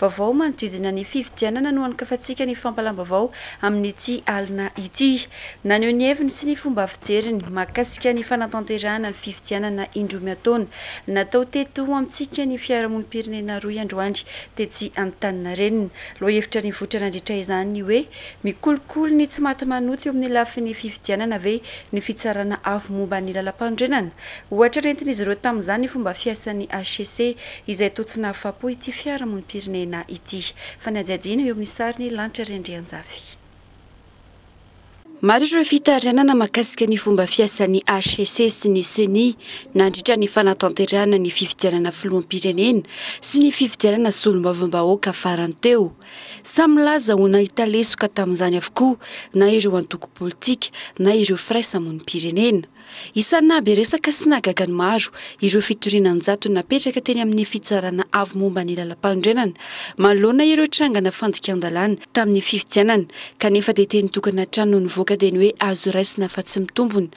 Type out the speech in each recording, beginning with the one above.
Vaovao manodidina ny fifidianana no anokafantsika ny fampalam-baovao amin'ity alina ity. Naneho ny heviny sy ny fomba fijeriny mahakasika ny fanatanterahana ny fifidianana indroa miataona natao teto ho amintsika ny fiarahamonim-pirenena rohy androany tetsy Antaninarenina. Lohahevitra nivoitra nandritra izany ny hoe. Mikolokolo ny tsy maty manota eo amin'ny lafiny fifidianana ve ny Fitsarana Avo momba ny Lalampanorenana? Ohatra nentin'izy ireo tamin'izany ny fomba fiasan'ny hcc, izay toa tsy nahafapo ity fiarahamonim-pirenena ity. Fanadihadiana eo amin'ny sarin'i Lanitra Randrianjafy. Maro ireo fitarainana mahakasika ny fomba fiasan'ny hcc sy ny ceni nandritra ny fanatanterahana ny fifidianana filoham-pirenena sy ny fifidianana solombavambahoaka farany teo. Samy milaza ho nahita lesoka tamin'izany avokoa na ireo antoko politika na ireo firaisamonim-pirenena. Isan'ny nahabe resaka sy nahagaga ny maro ireo fitoriana an-jatony napetraka teny amin'ny Fitsarana Avo momba ny Lalampanorenana manoloana ireo trangana fandikan-dalàna tamin'ny fifidianana kanefa dia teny tokana hatrany no nivoaka dia ny hoe azo raisina fa tsy mitombona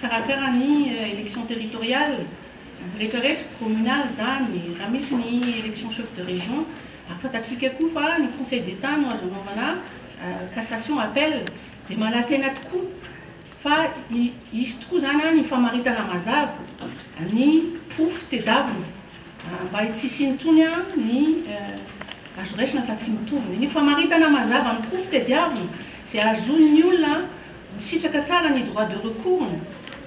Karakara ny élection territoriale rehetra rehetra, communale izany, raha misy ny élection chef de région, ary fantatsika koa fa ny conseil d'état no azo anaovana cassation, appel, dia manantena tokoa fa hisy tokoa izany ny famaritana mazava ny porofo tedavina mba tsy hisiany intsony ny azo raisina fa tsy mitovy ny famaritana mazava ny porofo tediavina izay hahazoan'ny olona Nisitraka tsara ny droit de recours-ny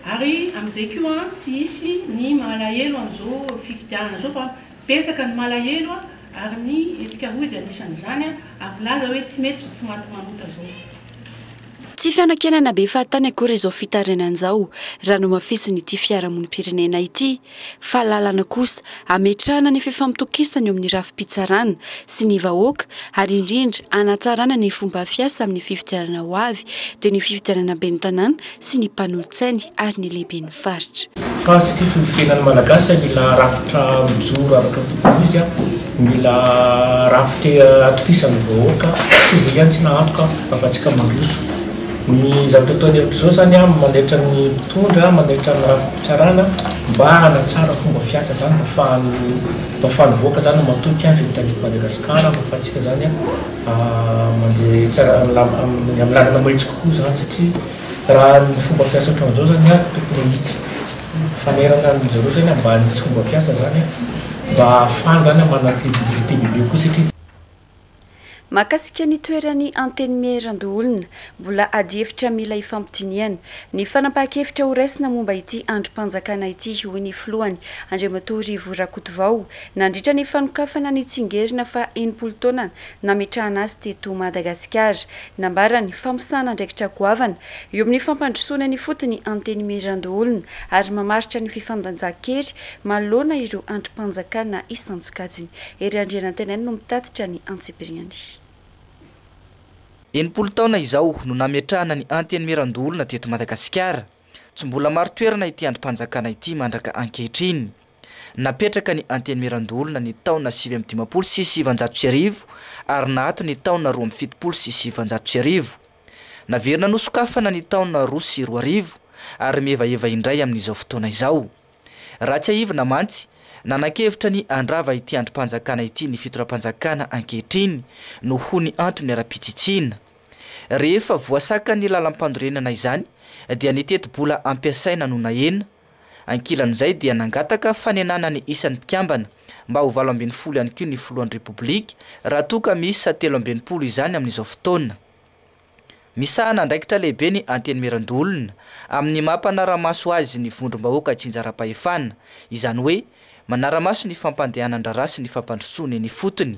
ary amin'izay koa tsy hisy ny mahalahelo amin'izao fifidianana izao fa betsaka ny malahelo ary ny hetsika rohy dia anisan'izany ary milaza hoe tsy mety izao tsy maty manota izao. Tsy fianakianana be fahatany akory izao fitarainana izao raha nomafisin'ity fiarahamonim-pirenena ity. fa lalana kosa hametrahana ny fifampitokisana eo amin'ny rafi-pitsarana sy ny vahoaka ary indrindra hanatsarana ny fomba fiasa amin'ny fifidianana ho avy dia ny fifidianana ben'ny tanàna sy ny mpanolotsainy ary ny lehiben'ny faritra. Fa satria fony fiainan'ny Malagasy mila rafitra mijoro araka ny tokony izy, mila rafitra atokisan'ny vahoaka, koa izay ihany tsy nahantoka afa-tsy ka mandroso. Ny zavatra ataon'ny hevitra izao izany an, manaitra ny mpitondra, manaitra ny rafi-pitsarana mba hanatsara ny fomba fiasa izany mba afahan'ny mba afahan'ny vahoaka izany matoky an izay vitan'eto Madagasikara mba afahantsika izany an mandeha tsara am lam am ny am lalana mahitsy kokoa izany satria raha ny fomba fiasa ohatran'izao izany an tokony hahitsy fanairana ny zareo izany an mba hanitsy fomba fiasa izany an mba afahany izany an manana credibilité bebe kokoa satria Mahakasika ny toeran'ny Antenimierandoholona, mbola adihevitra mila ifampidinihana ny fanapahan-kevitra ho raisina momba ity andrim-panjakana ity, hoy ny filohany, Andriamatoa Rivo Rakotovao, nandritra ny fanokafana ny tsingerina faha enimpolo taona nametrahana azy teto Madagasikara. Nambarany fa misahana andraikitra goavana eo amin'ny fampandrosoana ny fotony Antenimierandoholona ary mamaritra ny fifandanjan-kery manoloana ireo andrim-panjakana isan-tsokajiny. Hery Andrianantenaina no mitatitra ny antsipiriany. Enimpolo taona izao no nametrahana ny Antenimierandoholona teto Madagasikara. Tsy mbola maro toerana ity andrim-panjakana ity mandraka ankehitriny. Napetraka ny Antenimierandoholona ny taona sivy amby dimampolo sy sivanjato sy arivo ary naato ny taona roa amby fitopolo sy sivanjato sy arivo. Naverina nosokafana ny taona roa sy roa arivo ary mihevaheva indray amin'izao fotoana izao. Raha tsiahivina mantsy, nanan-kevitra ny handrava ity andrim-panjakana ity ny fitondram-panjakana ankehitriny noho ny antony ara-pitsitsiana. Rehefa voasakan'ny lalam-pandorenana izany dia ny tetibola ampiasaina no nahena. Ankilan'izay dia nangataka fanenana ny isan'ny mpikambana mba ho valo ambin'ny folo ihany koa ny filohan'ny Repoblika raha toa ka miisa telo amby enimpolo izany amin'izao fotoana. Misahana andraikitra lehibe ny Antenimierandoholona amin'ny maha mpanara-maso azy ny vondrom-bahoaka tsinjaram-pahefana, izany hoe manara-maso ny fampandehanan-draharaha sy ny fampandrosoana eny ifotony.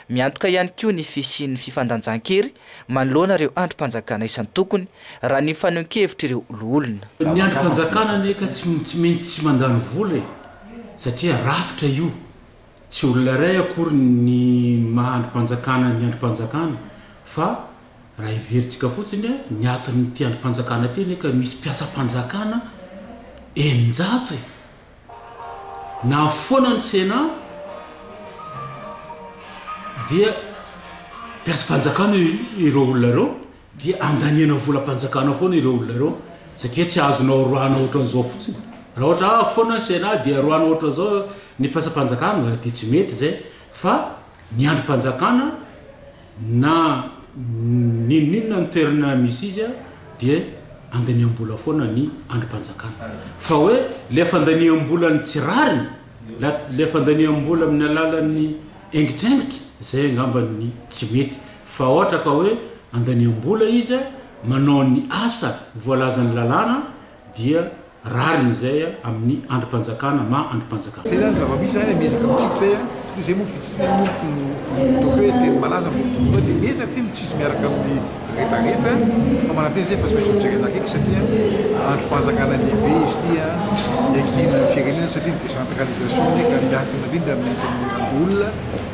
Miantoka ihany koa ny fisian'ny fifandanjan-kery manoloana ireo andrim-panjakana isan-tokony, raha ny fanehoan-kevitr'ireo loholona. Ny andrim-panjakana anie ka tsy maintsy tsy mandany vola e, satria rafitra io. Tsy olona iray akory ny maha andrim-panjakana ny andrim-panjakana fa raha heverintsika fotsiny ny aton'ity andrim-panjakana ity anie ka misy mpiasam-panjakana eninjato e! Na foana ny Sénat dia mpiasam-panjakana ireo olona ireo. Dia andaniana volam-panjakana foana ireo olona ireo satria tsy azonao roahina ohatran'izao fotsiny. Raha ohatra avy foana ny Sénat dia roahina ohatran'izao ny mpiasam-panjakana dia tsy mety izay fa ny andrim-panjakana na n'inon'inona ny toerana misy izy dia andaniam-bola foana ny andrim-panjakana. Fa hoe ilay fandaniam-bolan'ny tsy rariny, ilay fandaniam-bola amin'ny alalan'ny aingitraingitra, izay angamba ny tsy mety Fa ohatra ka hoe andaniam-bola izy manao ny asa voalazan'ny lalàna dia rariny izay amin'ny andrim-panjakana maha andrim-panjakana. Zay zany zava-misy zany an, miezaka mitsitsy zay an, satria zay moa fitsitsina moa no ataoko hoe teny malaza amzao fotoana zao dia miezaka zay mitsitsy miaraka amin'ny retraretra fa manantena zay fa tsy maintsy ho jerena akaiky satria andrim-panjakana lehibe izy ity an, iankinan'ny firenena satria ny décentralisation anie ka miankina indrindra amin'ny fameliram-bola.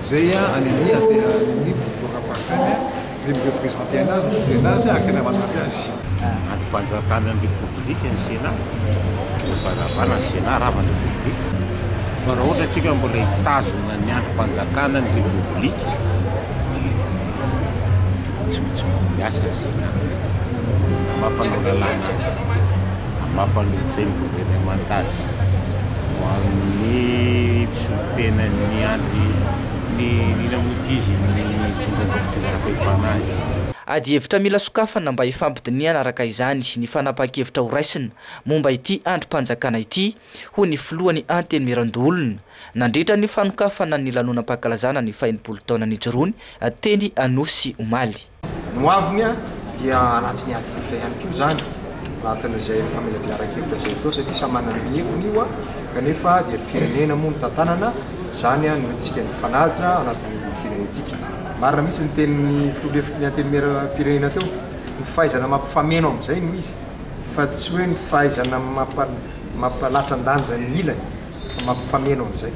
Zay a any amin'ny any amin'ny foibloram-paritany a, zay mi-representer anazy, mi-soutenir anazy ary tena manampy azy. Andrim-panjakana ny Repoblika ny Sena, mbola fanavana ny Sena raha avy ny Repoblika. Fa raha ohatra antsika mbola hitazona ny andrim-panjakana ny Repoblika dia tsy maintsy mamboly asa ny Sena. Na mampanao lalàna azy, na mampanolo-tsaina ny governemanta azy ho amin'ny. Tsy ny tena niandry ny nina moa ity izy no tonga mba nitsinjaram-pahefana azy. Adihevitra mila sokafana mba hifampidinihana araka izany ny fanapahan-kevitra horaisina momba ity andrim-panjakana ity, hoy ny filohan'ny Antenimierandoholona, nandritra ny fanokafana ny lanonam-pankalazana ny fahenimpolo taona nijoroany teny Anosy omaly. Ny ho aviny dia anatin'ny ady hevitra ihany koa izany, anatin'izay famelabelan-kevitra izay atao satria samy manana ny heviny io kanefa dia ny firenena moa no tantanana, izany no entintsika mifanaja anatin'ny firenentsika. Marina mihitsy ny tenin'ny filoha lefitry ny Antenimieram-pirenena teo, ny fahaizana mampifameno amin'izay no izy fa tsy hoe ny fahaizana mampa-latsa-danja ny ilany fa mampifameno amin'izay.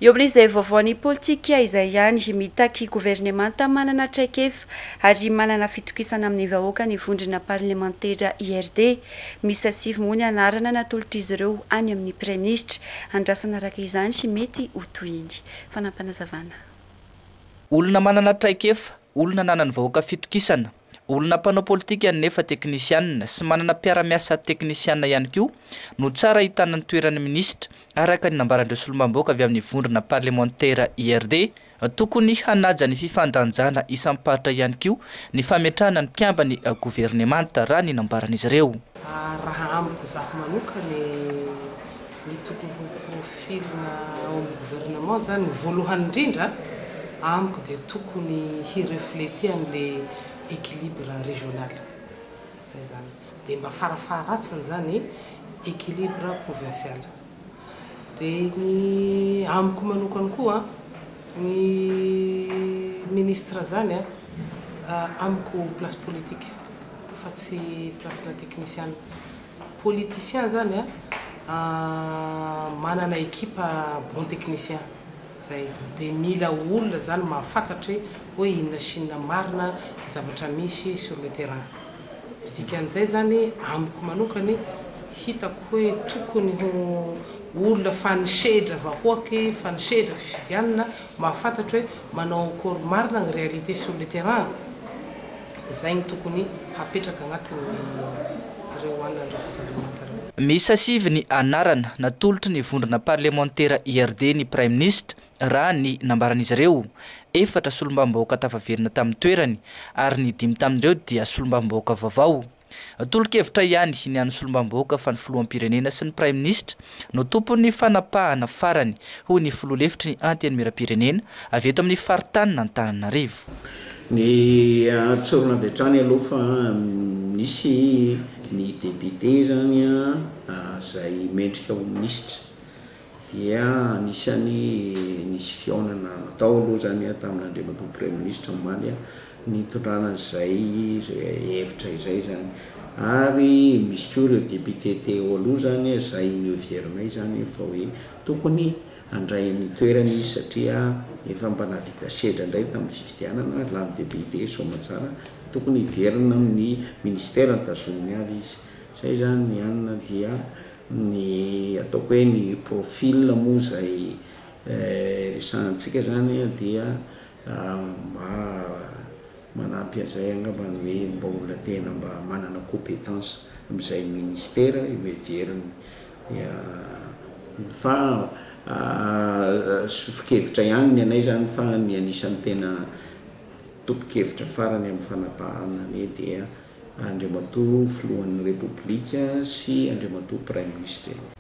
Eo amin'izay vaovaon'ny politika izay ihany, mitaky governemanta manana traikefa ary manana fitokisana amin'ny vahoaka ny vondrona parlemantera IRD. Miisa sivy moa ny anarana natolotr'izy ireo any amin'ny Praiminisitra. Andrasana araka izany mety ho tohiny. Fanampinazavana. Olona manana traikefa, olona ananan'ny vahoaka fitokisana. Olona mpanao politika nefa teknisianina sy manana mpiara-miasa teknisianina ihany koa no tsara ahitana ny toeran'ny minisitra, araka ny nambaran'ireo solombambaoka avy amin'ny vondrona parlemantera IRD. Tokony hanaja ny fifandanjana isam-paritra ihany koa ny fametrahana ny mpiambin'ny governemanta, raha ny nambaran'izy ireo. Raha amiko izaho manokana e! Ny tokony ho profil-na ao amin'ny gouvernement izany voalohany indrindra amiko dia tokony hi-refleter an'ilay equilibre régional. Izay izany. Dia mba farafaharatsiny izany equilibre provincial. Dia ny amiko manokana koa ny ministre izany amiko place politique fa tsy place-na teknisiana. Politicien zany a manana ekipa bon technicien zay de mila olona zany mahafantatra oe inona sy inona marina ny zavatra misy sur le terrain dikan'izay zany amiko manokany hitako hoe tokony ho olona fa nisehedra vahoaky fa nisehedra fifidianana mahafantatra oe manao akory marina ny realite sur le terrain. Izay no tokony hapetraka anatin'ireo an'Andriamatoaravalomanana ireo. Miisa sivy ny anarana natolotry ny vondrona parlemantera IRD ny Praiminisitra, raha ny nambaran'izy ireo. Efatra solombavambahoaka tafaverina tamin'ny toerany, ary ny dimy tamin'ireo dia solombavambahoaka vaovao. Tolo-kevitra ihany ny an'ny solombavambahoaka fa ny filoham-pirenena sy ny praiminisitra no tompon'ny fanapahana farany, hoy ny filoha lefitry ny Antenimierampirenena avy eto amin'ny faritanin'Antananarivo. Ny an-tsorona avy hatrany aloha fa misy ny depiote izany izay mendrika ho minisitra. dia anisan'ny nisy fihaonana natao aloha izany tamin'Andriamatoa Praiminisitra omaly nitondrana an'izay hevitra izay izany ary misy koa ireo députés teo aloha izany izay noheverina izany fa hoe tokony handray ny toerany izy satria efa mba nahavita sedra indray tamin'ny fifidianana lany député soamantsara tokony hiverina amin'ny ministère nitazoniny avy izy izay izany ny anona dia Ny ataoko hoe ny profil moa izay resahantsika izany dia mba manampy an'izay angamba ny hoe mba olona tena mba manana competence amin'izay ministera eo heveriny. Dia fa sofin-kevitra ihany ny anay izany fa ny anisan'ny tena tompon-kevitra farany amin'ny fanapahana anie dia Andriamatoa Filohan'ny Repoblika sy Andriamatoa Praiminisitra.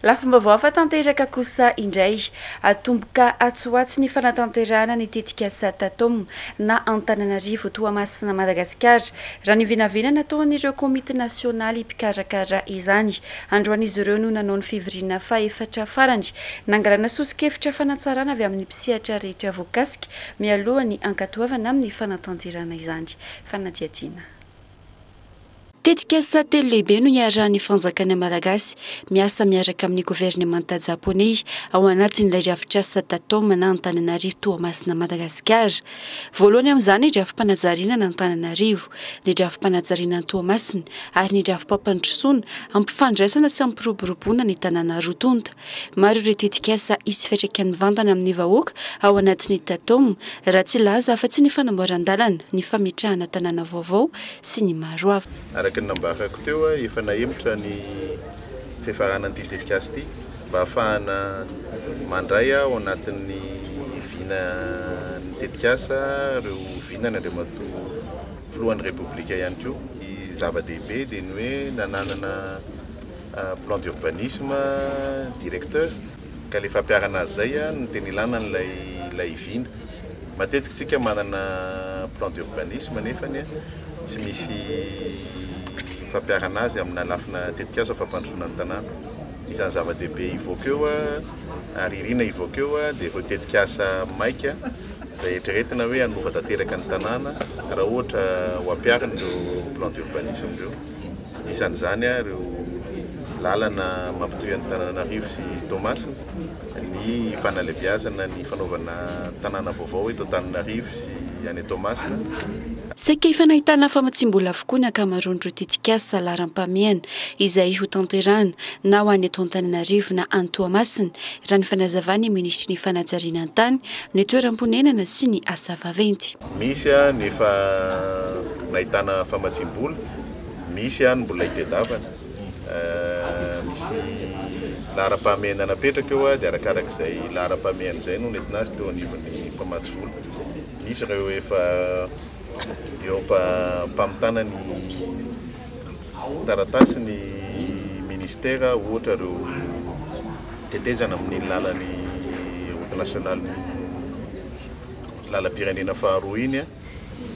Lafim-baovao hafa tanteraka kosa indray. Atomboka atsy ho atsy ny fanatanterahana ny tetikasa Tatom na Antananarivo Toamasina Madagasikara, raha ny vinavina nataon'ireo komity nasionaly mpikarakara izany. Androany izy ireo no nanao ny fivoriana fahefatra farany, nangalana soso-kevitra fanatsarana avy amin'ny mpisehatra rehetra voakasika, mialoha ny hankatoavana amin'ny fanatanterahana izany. fanadihadiana. Tetikasa telo lehibe no iarahan'ny fanjakana malagasy miasa miaraka amin'ny governemanta japoney ao anatin'ilay drafitrasa Tatom na Antananarivo Toamasina Madagasikara. Voalohany amin'izany ny drafi-panajariana an'Antananarivo, ny drafi-panajariana an'Toamasina ary ny drafi-pampandrosoana, hampifandraisana sy hampiroboroboana ny tanàna roa tonta. Maro ireo tetikasa hisy fiantraikany mivantana amin'ny vahoaka ao anatin'ny Tatom, raha tsy hilaza afa-tsy ny fanamboaran-dalana, ny fametrahana tanàna vaovao sy ny maro hafa. Araka ny nambarako teo, efa nahemotra ny fifaranan'ity tetikasa ity mba hahafahana mandray ao anatin'ny vina ny tetikasa ireo vinany, Andriamatoa Filohan'ny Repoblika ihany koa. Ny zava-dehibe dia ny hoe nananana. plan d'urbanisme, directeur, ka le fampiharana azy zay no tena ilana an'ilay ilay vina. Matetika isika manana plan d'urbanisme nefany a tsy misy fampiharana azy amina lafina tetikasa ny fampandrosoana ny tanàna. Isan'ny zava-dehibe hivoaka eo a, ary irina hivoaka eo a, dia ireo tetikasa maika izay eritreretina hoe hanova tanteraka ny tanàna raha ohatra ho ampiharina ireo plan d'urbanisme ireo. Anisan'izany ireo lalana mampitohy an'Antananarivo sy Toamasina, ny fanalebiazana ny fanaovana tanàna vaovao eto Antananarivo sy any Toamasina. Saika efa nahitana famatsiam-bola avokoa ny ankamaroan'ireo tetikasa laharam-pahamehana izay hotanterahina na ho any eto Antananarivo na any Toamasina, raha ny fanazavan'ny minisitry ny Fanajarianan-tany, ny Toeram-ponenana sy ny Asa vaventy. Misy ny efa nahitana famatsiam-bola, misy ny mbola hitedavana. Misy laharam-pahamehana napetraka eo dia arakarak'izay laharam-pahamehana izay no nentina azy teo anivon'ny mpamatsy vola. Misy ireo efa eo am-pamitana ny taratasy ny ministera ohatra ireo tetezana amin'ny lalan'ny route nationale. lalam-pirenena faharoa iny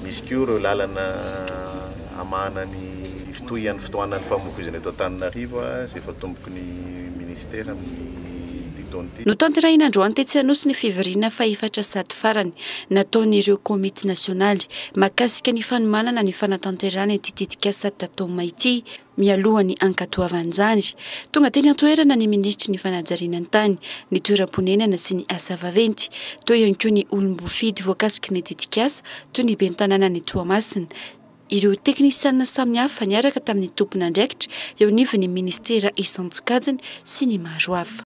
misy koa ireo lalana hamahana ny fitohian'ny fitohanan'ny famoivoizana eto Antananarivo izay efa tomboky ny minisitera amin'ity taona ity. Notanterahina androany tetsy Anosy ny fivoriana fahefatra sady farany nataon'ireo komity nasionaly mahakasika ny fanomanana ny fanatanterahana ity tetikasa Tatoma ity. Mialoha ny hankatoavan'izany, tonga teny an-toerana ny minisitry ny fanajariana ny tany, ny toeram-ponenana sy ny asa vaventy. Teo ihany koa ny olom-boafidy voakasiky ny tetikasa, toy ny ben'ny tanànan'i Toamasina. Ireo teknisianina samihafa niaraka tamin'ny tompon'andraikitra eo anivon'ny minisitera isan-tsokajiny sy ny maro hafa.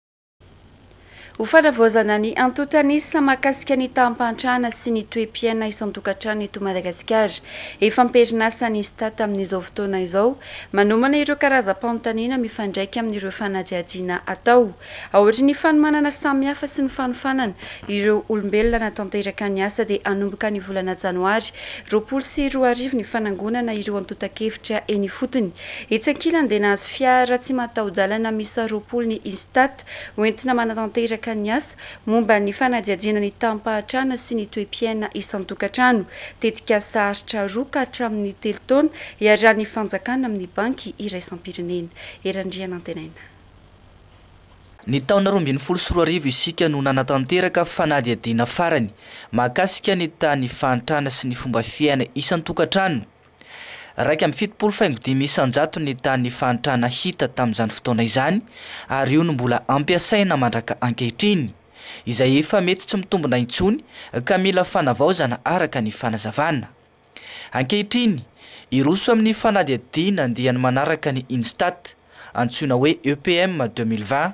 Ho fanavaozana ny antontan'isa mahakasika ny taham-pahantrana sy ny toe-piaina isan-tokantrano eto Madagasikara. Efa am-perinasa ny Stat amin'izao fotoana izao, manomana ireo karazam-panontaniana mifandraika amin'ireo fanadihadiana atao. Aorian'ny fanomanana samihafa sy ny fanofanana ireo olombelona hanatanteraka ny asa dia hanomboka ny volana janoary roapolo sy roa arivo ny fanangonana ireo antontan-kevitra eny ifotony Etsy ankilany dia nahazo fiara tsy mataho-dalana miisa roapolo ny Instat, hoentina manatanteraka ny asa momba ny fanadihadiana ny taham-pahatrana sy ny toe-piaina isan-tokantrano. Tetikasa aritra roa ka hatramin'ny telo taona iarahan'ny fanjakana amin'ny Banky iraisam-pirenena. Hery Andrianantenaina. Ny taona roa ambin'ny folo sy roa arivo isika no nanatanteraka fanadihadiana farany mahakasika ny tahan'ny fahantrana sy ny fomba fiaina isan-tokantrano. Iraika amby fitopolo faingo dimy isan-jato ny tany fahantrana hita tamin'izany fotoana izany ary io no mbola ampiasaina mandraka ankehitriny, izay efa mety tsy mitombina intsony ka mila fanavaozana araka ny fanazavana. Ankehitriny, hiroso amin'ny fanadihadiana andiany manaraka ny Instat, antsoina hoe EPM deux mille vingt,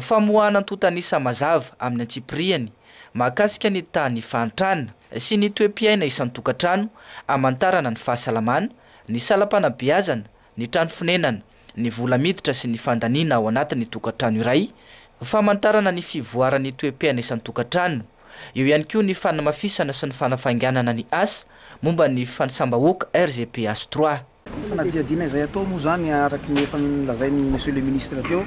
Famoahana antontan'isa mazava amin'ny antsipiriany mahakasika ny tany fahantrana sy ny toe-piaina isan-tokantrano hamantarana ny fahasalamana, ny salam-panabeazana, ny trano fonenana, ny vola miditra sy ny fandaniana ao anatin'ny tokantrano iray, famantarana ny fivoaran'ny toe-piaina isan-tokantrano, eo ihany koa ny fanamafisana sy ny fanafainganana ny asa momba ny fanisam-bahoaka RGPH trois. Ny fanadihadiana izay atao moa izany araka ny efa nolazain'i Monsieur le Ministre teo,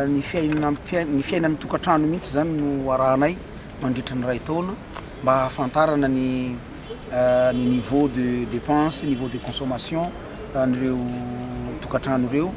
ny fiainana, ny fiainan'ny tokantrano mihitsy izany no arahanay mandritra ny iray taona mba hahafantarana ny ny niveau de dépense, niveau de consommation an'ireo tokantrano ireo.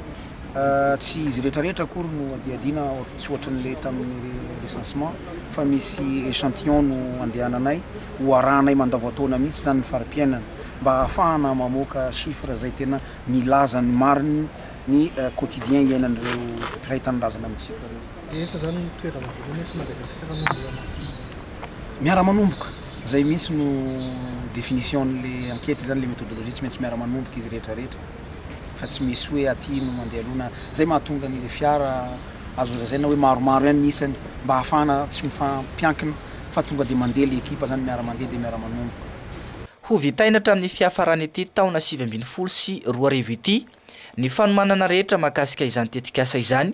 Tsy izy rehetrarehetra akory no adihadiana, tsy ohatran'ilay tamin'ny recensement fa misy échantillon no andehananay, ho arahanay mandavantaona mihitsy izany ny fari-piainana. mba ahafahana mamoaka chiffres izay tena milaza ny marina ny quotidien iainan'ireo mpiray tanindrazana amintsika ireo. Rehefa izany no toerana voalohany eto Madagasikara no mbola mampidi-doza. Miara-manomboka, izay mihitsy no definition-n'le enquete izany, le methodologie, tsy maintsy miara-manomboka izy rehetra rehetra fa tsy misy hoe aty no mandeha aloha na, izay mahatonga an'ireo fiara azo lazaina hoe maromaro ihany ny isany mba ahafahana tsy mifampiankina fa tonga dia mandeha le ekipa izany miara-mandeha dia miara-manomboka. Ho vitaina hatramin'ny fiafaran'ity taona sivy ambin'ny folo sy roa arivo ity ny fanomanana rehetra mahakasika izany tetikasa izany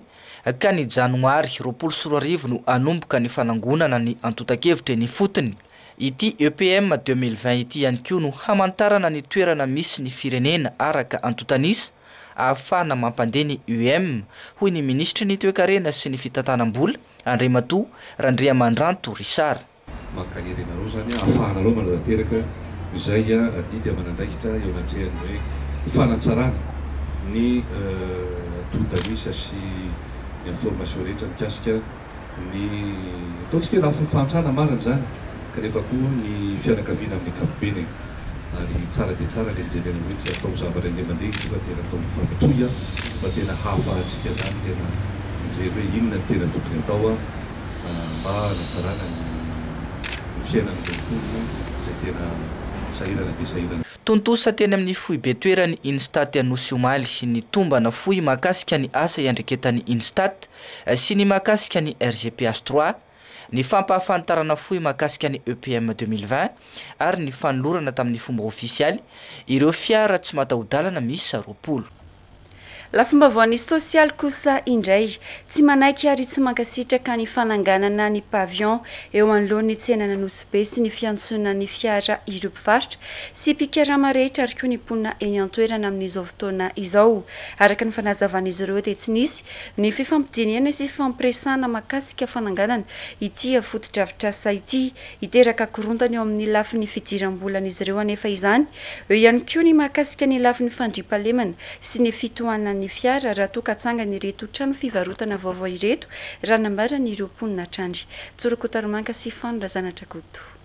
ka ny janoary roapolo sy roa arivo no hanomboka ny fanangonana ny antontan-kevitra eny ifotony. Ity EPM deux mille vingt ity ihany koa no hamantarana ny toerana misy ny firenena araka antontan'isa ahafahana mampandeha ny UEM, hoy ny minisitry ny Toekarena sy ny fitantanam-bola, Andriamatoa Randriamandranto Richard. Mankahery anareo izany ahafahanareo manatanteraka izay adidy aman'andraikitra eo anatrehan'ny hoe fanatsarana ny tohidalisa sy ny information rehetra mikasika ny ataontsika hoe lafiny fahantrana marina izany kanefa koa ny fianakaviana amin'ny ankapobeny e! ary tsara dia tsara le mijery anareo hoe tsy atao zavatra indray mandeha izy io fa tena atao mifampitohy fa tena hahafahantsika izany tena mijery hoe inona ny tena tokony atao mba hanatsarana ny fiainan'ireo mponina izay tena sahirana dia sahirana. Tontosa teny amin'ny foibe toeran'ny Instat Anosy omaly ny tombana fohy mahakasika ny asa iandreketan'ny Instat sy ny mahakasika ny RGPH trois, ny fampahafantarana fohy mahakasika ny EPM deux mille vingt ary ny fanolorana tamin'ny fomba ofisialy ireo fiara tsy mataho-dalana miisa roapolo. Lafim-baovaon'ny sosialy kosa indray, tsy manaiky ary tsy mankasitraka ny fananganana ny pavillon eo anoloan'ny tsenan'Anosibe sy ny fiantsonan'ny fiara ireo mpivarotra sy mpikarama rehetra ary koa ny mponina eny an-toerana amin'izao fotoana izao. Araka ny fanazavan'izy ireo dia tsy nisy ny fifampidinihana sy fifampiresahana mahakasika fananganana ity fotodrafitrasa ity Hiteraka korontana eo amin'ny lafiny fidiram-bolan'izy ireo anefa izany. Eo ihany koa ny mahakasika ny lafiny fandriampahalemana sy ny fitohanan'ny fiara raha toa ka atsangany ireto trano fivarotana vaovao ireto, raha nambaran'ireo mponina hatrany. Tsorokotarimanka sy Fano Razanadrakoto.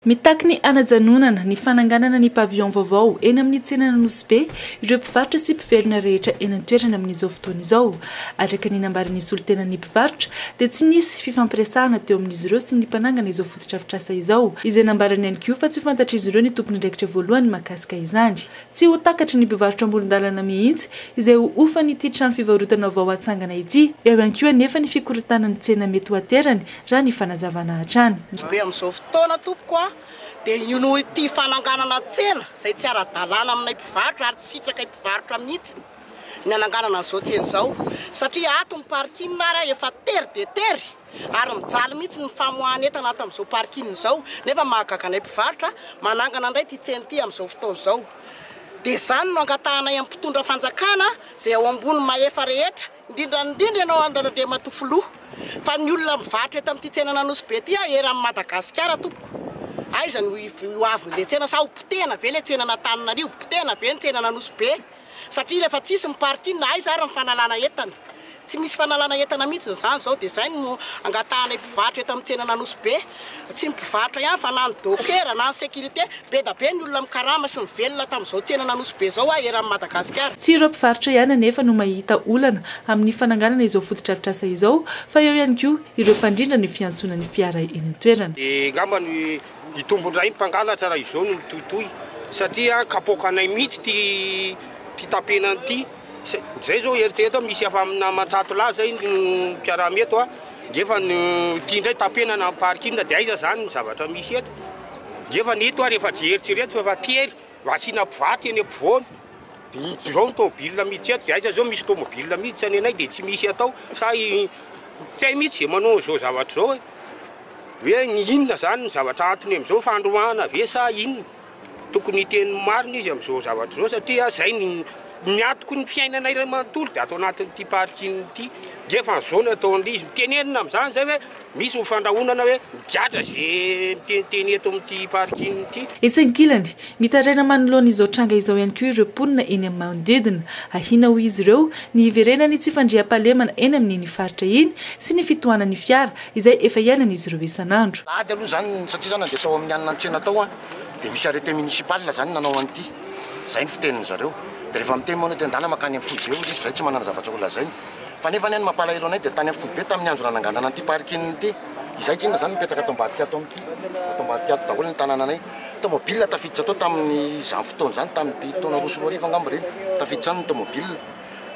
Mitaky ny hanajanonana ny fananganana ny pavillon vaovao eny amin'ny tsenan'Anosibe ireo mpivarotra sy mpivelona rehetra eny an-toerana amin'izao fotoana izao. Araka ny nambaran'ny solontenan'ny mpivarotra dia tsy nisy fifampiresahana teo amin'izy ireo sy ny mpanangana izao fotodrafitrasa izao, izay nambarany ihany koa fa tsy fantatr'izy ireo ny tompon'andraikitra voalohany mahakasika izany. Tsy ho takatry ny mpivarotra amoron-dalana mihitsy izay ho hofan'ity trano fivarotana vao hatsangana ity, eo ihany koa anefa ny fikorontanan'ny tsena mety ho aterany raha ny fanazavana hatrany. Be amin'izao fotoana tompoko a! Dia io noho ity fananganana tsena izay tsy ara-dalàna aminay mpivarotra ary tsy hitrakay mpivarotra mihitsy. ny hananganana an'izao tsena izao satria ato ny parking ary efa tery dia tery ary mijaly mihitsy ny famoahan'entana ato amin'izao parking izao nefa mahagaga anay mpivarotra manangana indray ity tsena ity amin'izao fotoana izao dia izany no angatahanay amin'ny mpitondra fanjakana izay ao ambony mahefa rehetra indrindra indrindra ianao Andriamatoa Filoha fa ny olona mivarotra eto amin'ity tsenan'Anosibe ity aho eran'i Madagasikara tompoko aiza no ho avin'ilay tsena sa ho potehina ve ilay tsenan'Antananarivo, potehina ve ny tsenan'Anosibe? Satria rehefa tsisy ny parking na aiza ary ny fanalana entana. Tsy misy fanalana entana mihitsy izany izao dia izay no angatahanay mpivarotra eto amin'ny tsenan'Anosibe. Tsy ny mpivarotra ihany fa na ny dokera na ny sécurité. Bedabe ny olona mikarama sy mivelona tamin'izao tsenan'Anosibe izao a eran'i Madagasikara. Tsy ireo mpivarotra ihany anefa no mahita olana amin'ny fananganana izao fotodrafitrasa izao fa eo ihany koa ireo mpandrindra ny fiantsoana ny fiara eny an-toerana. Dia angamba ny. Hitombo indray ny mpangalatra raha izao no mitohitohy satria kapoaka anay mihitsy ity ity tampenana ity. Zay zao eritrereto aho misy efa amina aman-tsato lahy zay no mpiaraha-my eto a, ngefa no ity indray tampenana amin'ny parking dia aiza zany ny zavatra misy eto? Ngefa ny eto ary efa tsy eritreretiko fa tery Asiana boaty eny ampovoany dia hidina ao ny tomobilina miditsy ato, dia aiza izao misy tomobilina miditra ny anay dia tsy misy atao sa tsy hay mihitsy izay manao an'izao zavatra izao e! hoe ny inona izany ny zavatra atony amin'izao, fandroahana ve sa inona? tokony hiteny ny marina izy amin'izao zavatra izao satria izay no ny antoky ny fiainanay iray manontolo dia ato anatin'ity parking ity, nge fa an'izao no ataon'izy, tenenina amin'izany izay hoe. Misy ho fandrahonana hoe migadra ze miteniteny eto amin'ity parking ity. Etsy ankilany, mitaraina manoloana izao tranga izao ihany koa ireo mponina eny amin'ny manodidina. Ahiana hoy izy ireo ny hiverenan'ny tsy fandriampahalemana eny amin'iny faritra iny sy ny fitohanan'ny fiara izay efa iainan'izy ireo isan'andro. Alahady aloha izany satria izao na dia tao amin'ny hanina an-tsena tao dia misy arrêté municipal izany nanao an'ity. Izay ny fitenin'izareo. Dia rehefa miteny manao tendàna mankany amin'ny foibe hozy izy fa izay tsy manana zavatra holazainy. Fa nefa anie ny mampalahelo anay dia tany amin'ny foibe tamin'ny andro nananganana an'ity parking ity, izay k'inona izany mipetraka ato ambadika ato amin'ity, ato ambadika ato daholo ny tanananay. Tomobile tafiditra tao tamin'izany fotoana izany, tamin'ity taona roa sy roa arivo angamba ireny, tafiditra any ny tomobile.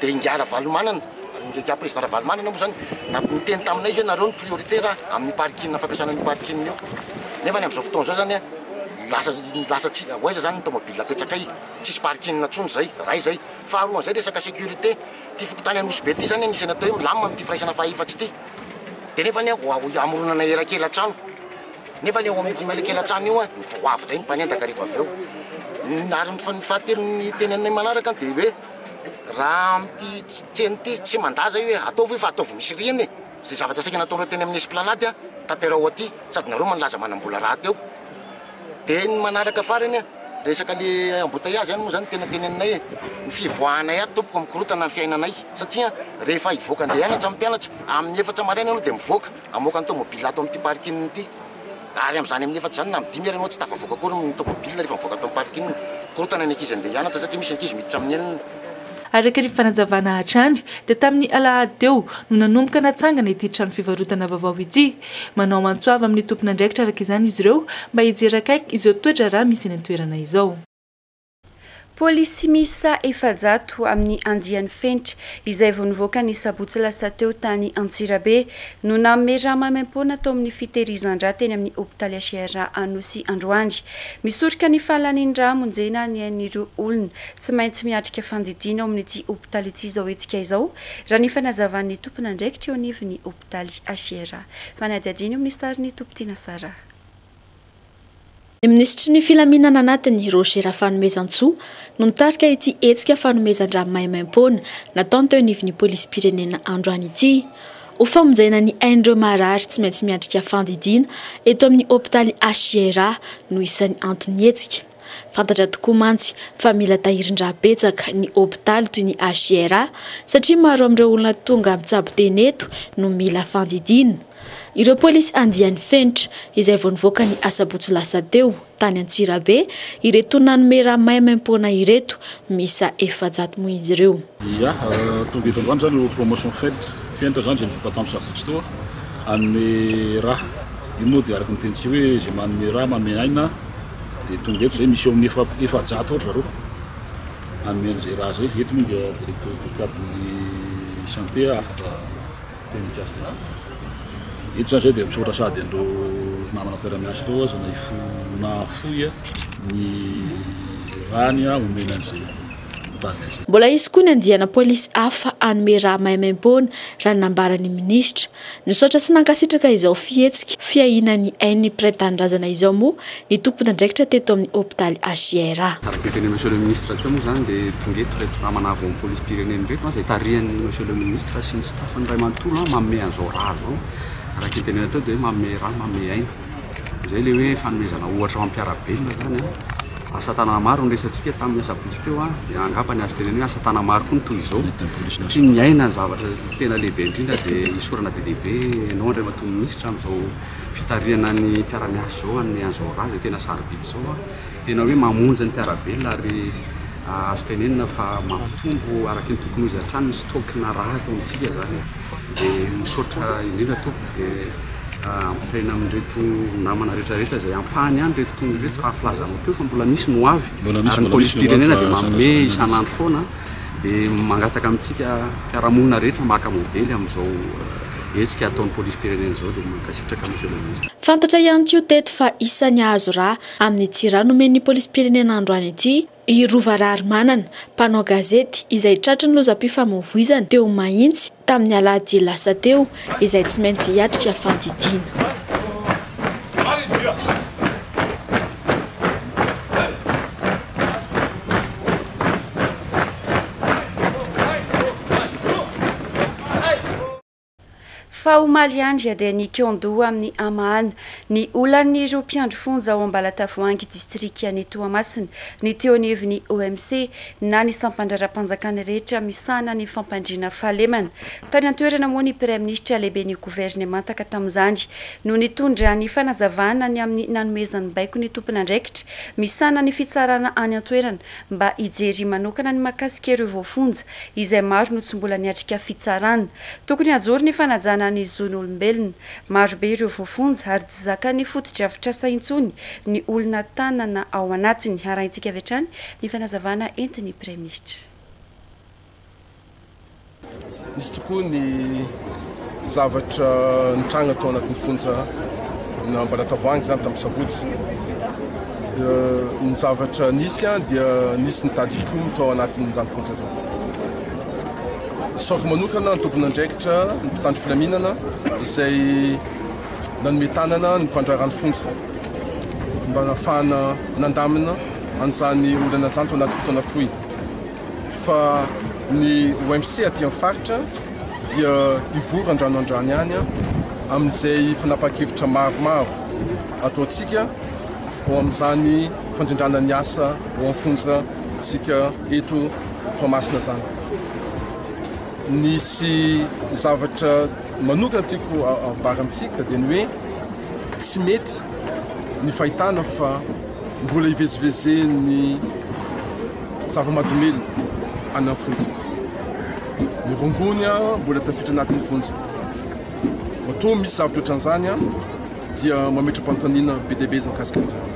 Dia ingahy Ravalomanana, ingahy prezida Ravalomanana moa izany, namp- niteny taminay izy hoe nareo no priorité raha amin'ny parking, fampiasana an'io parking io. Nefa ny amin'izao fotoana izao izany an, lasa, lasa tsy, ho aiza izany ny tomobile apetrakay, tsisy parking intsony izay, iray izay. Faharoa an'izay resaka sécurité. Ity fokontany Anosibe ity izany anisany atao hoe milamina amin'ity firaisana fahaefatra ity. Dia nefa anie vao hamoronana elakelan-trano, nefa anie ao amin'ity elakelan-trano io dia vao avy indray ny mpanendaka rehefa avy eo. Ary ny fahatelo ny teneniny manaraka dia hoe raha amin'ity tsena ity tsy mandaza io hoe ataovy io fa ataovy misy rihana e! Izay zavatra saika nataonareo teny amin'ny Esplanade tanteraho aty sady nareo manlaza manam-bola rahateo. Dia ny manaraka farany an, resaka le embouteillage zany moa zany tena teny aminay e, ny fivoahanay ato tompoko mikorotana ny fiainanay satria an rehefa hivoaka andeha hianatra ny mpianatra amin'ny efatra maraina ianao dia mivoaka hamoaka ny tomobile ato amin'ity parking ity ary amin'izany amin'ny efatra izany na amin'ny dimy ary ianao tsy tafavoaka akory ny tomobile rehefa mivoaka ato amin'ny parking, mikorotana ny ankizy andeha hianatra satria misy ankizy miditra amin'ny enina. Araka ny fanazavana hatrany dia tamin'ny alahady teo no nanomboka natsangana ity trano fivarotana vaovao ity, Manao antso avo amin'ny tompon'andraikitra araka izany izy ireo mba hijery akaiky izao toedraharaha misy eny an-toerana izao. Polisy miisa efajato amin'ny andiany fenitra, izay vao nivoaka ny sabotsy lasa teo tany Antsirabe, no nanome rà maimaimpoana tao amin'ny fitehirizan-drà teny amin'ny hopitaly HRA Anosy androany. Misoroka ny fahalan'ny rà hamonjena ny ain'ireo olona tsy maintsy miatrika fandidiana ao amin'ity hopitaly ity izao hetsika izao, raha ny fanazavan'ny tompon'andraikitra eo anivon'ny Daly Ashiera. Fanadihadian'io minisitary ny Tompon-tiana Sarah. Ny minisitry ny filaminana anatiny, Roger Rafanomezantsoa, no nitarika ity hetsika fanomezan-drà maimaim-poana nataony teo anivon'ny polisim-pirenena androany ity. Ho famonjena ny ain'ireo marary tsy maintsy miatrika fandidiana eto amin'ny hopitaly Ashiera no isan'ny anton'ny hetsika. Fantatra tokoa mantsy fa mila tahirin-dra betsaka ny hopitaly toy ny HJRA satria maro amin'ireo olona tonga mitsabo tena eto no mila fandidiana. Ireo polisy andiany fenitra izay vao nivoaka ny asabotsy lasa teo tany Antsirabe ireto nanome rà maimaim-poana ireto miisa efajato moa izy ireo. Ia, tonga eto androany izany io promotion fed fent izany izay nivoaka tamin'ny sabotsy teo, hanome rà. Io moa dia araka ny tenintsika hoe izay manome rà, manome aina dia tonga eto izay. Misy eo amin'ny efa efajato eo ry zareo hanome an'izay rà izay. Eto moa dia directeur du cabin'ny santé afaka miteny mikasika an'izany. Eto izany izay dia misaotra sady an'ireo namana mpiara-miasa ireo aza na hifoha na hafoy ny ràny omena an'izay. Mbola hisy koa ny andiana polisy hafa hanome rà maimaimpoana, raha ny nambaran'ny minisitra. Nisaotra sy nankasitraka izao fihetsika fiahiana ny ain'ny mpiray tanindrazana izao moa ny tompon'andraikitra teto amin'ny hopitaly HIR. Araka ny notenenin'i Monsieur le Ministre teo moa izany dia tonga eto ireto namana vao amin'ny polisim-pirenena ireto izay tarihan'i Monsieur le Ministre sy ny staff-ny iray manontolo manome an'izao rà izao. Araka ny tenenany teo dia manome rà, manome aina. izay ilay hoe fanomezana ohatra ho an'ny mpiara-belona izany an, asa tanana maro no resantsika tamin'ny asabotsy teo an, dia angamba ny azo tenenina hoe asa tanana maro koa no toy izao, satria ny aina ny zavatra tena lehibe indrindra dia isaorana be dia be ianao Andriamatoa Minisitra amin'izao fitarihana ny mpiara-miasa izao amin'ny Anjora izay tena sarobidy izao an. Tena hoe mamonjy ny mpiara-belona ary azo tenenina fa mampitombo araka ny tokony ho izy hatrany ny stock-na rà ato amintsika izany. Dia misaotra indrindra tompoko dia ampitaina amin'ireto namana rehetrarehetra izay ampahany ihany ireto tongony ireto raha filazanao teo fa mbola misy ny ho avy ary ny polisim-pirenena dia manome isan'andro foana dia mangataka amintsika fiarahamonina rehetra maka modely amin'izao hetsika ataon'ny polisim-pirenena izao dia mankasitraka Monsieur le Ministre. Fantatra ihany koa teto fa isan'ny hahazo rà Amin'ny jirà nomen'ny polisim-pirenena androany ity i Rova Raharimanana, mpanao gazety izay tratry ny lozam-pifamoivoizana teo Mahitsy tamin'ny alahady lasa teo, izay tsy maintsy hiatrika fandidiana. Fa omaly andry dia nikian-doha amin'ny hamahana ny olan'ireo mpiandry fonja ao Ambalatavoahangy distrikan'i Toamasina ny teo anivon'ny OMC na ny sampandraharahampanjakana rehetra misahana ny fampandriana fahalemana. Tany an-toerana moa ny Praiminisitra lehiben'ny governemanta ka tamin'izany no nitondra ny fanazavana ny amin'ny nanomezany baiko ny tompon'andraikitra misahana ny fitsarana any an-toerana mba hijery manokana ny mahakasika ireo voafonja, izay maro no tsy mbola niatrika fitsarana. Tokony hajoro ny fanajana ny zon'olombelona. Maro be ireo voafonja ary tsy zakan'ny fotodrafitrasa intsony ny olona tanana ao anatiny. Harahintsika avy hatrany ny fanazavana entin'ny Praiminisitra. Izy tokoa ny zavatra nitranga tao anatin'ny fonja na Ambalatavoahangy izany tamin'ny sabotsy. Ny zavatra nisy an dia nisy ny tadikomy tao anatin'izany fonja izany. Saoka manokana ny tompon'andraikitra ny mpitandro filaminana izay nanome tanana ny mpandraharaha ny fonja mba nafahana nandamina an'izany olana izany tao anaty fotoana fohy. fa ny OMC aty amin'ny faritra dia hivory andrano andrano ihany amin'izay fanapahan-kevitra maromaro ataontsika ao amin'izany fandrindrana ny asa ao amin'ny fonja tsika eto Toamasina zany. Nisy zavatra manokana tiako ambara amintsika dia ny hoe tsy mety ny fahitana fa mbola hivezivezen'ny Zava-mahadomelina any amin'ny fonja. Ny rongony mbola tafiditra anatin'ny fonja. Matoa misy zavatra ohatran'izany dia mametra-panontaniana be dia be izy mikasika an'izany.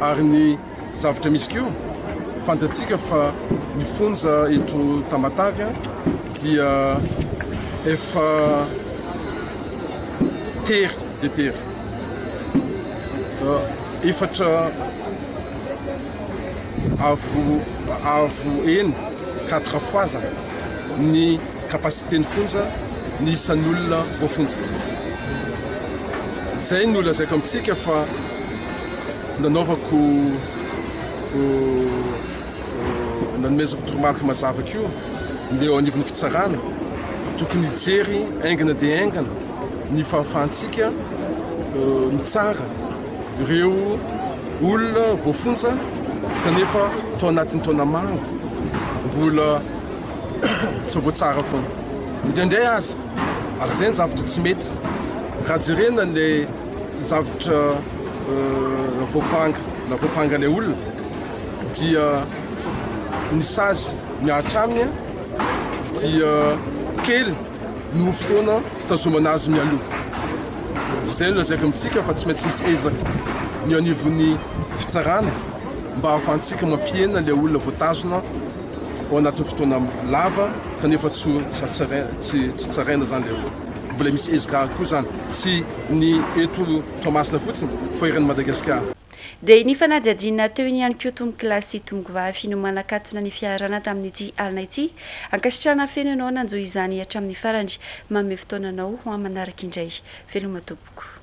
Ary ny zavatra misy koa, fantatsika fa ny fonja eto Tamatave dia efa tery dia tery. Efatra avo avo eny quatre fois zany ny capacité ny fonja ny isan'ny olona voafonja zay no lazaiko amintsika fa nanaovako nanomezako toromarika mazava ko ndeha eo anivon'ny fitsarana tokony hijery aingana dia aingana ny fahafahantsika mitsara Ireo olona voafonja kanefa tao anatin'ny taona maro mbola tsy voatsara foana. Indraindray aza, ary izay ny zavatra tsy mety, raha jerena ilay zavatra voampanga na voampanga ilay olona dia ny sazy mihatra aminy dia kely noho fotoana Fitazomana azy mialoha. Izay no lazaiko amintsika fa tsy maintsy misy ezaka ny eo anivon'ny fitsarana mba ahafahantsika mampihena ilay olona voatazona ao anatin'ny fotoana lava kanefa tsy tsy tsaraina izany ilay olona. Mbola misy ezaka koa izany. Tsy ny eto Toamasina fotsiny fa eran'i Madagasikara. Dia nifanadihadiana teo iny ihany koa tompoko lahy sy tompoko vavy no manakatona ny fiarahana tamin'ity alina ity. Ankasitrahana feno ianao nanjo izany hatramin'ny farany. Manome fotoana anao ho amin'ny manaraka indray. Veloma tompoko.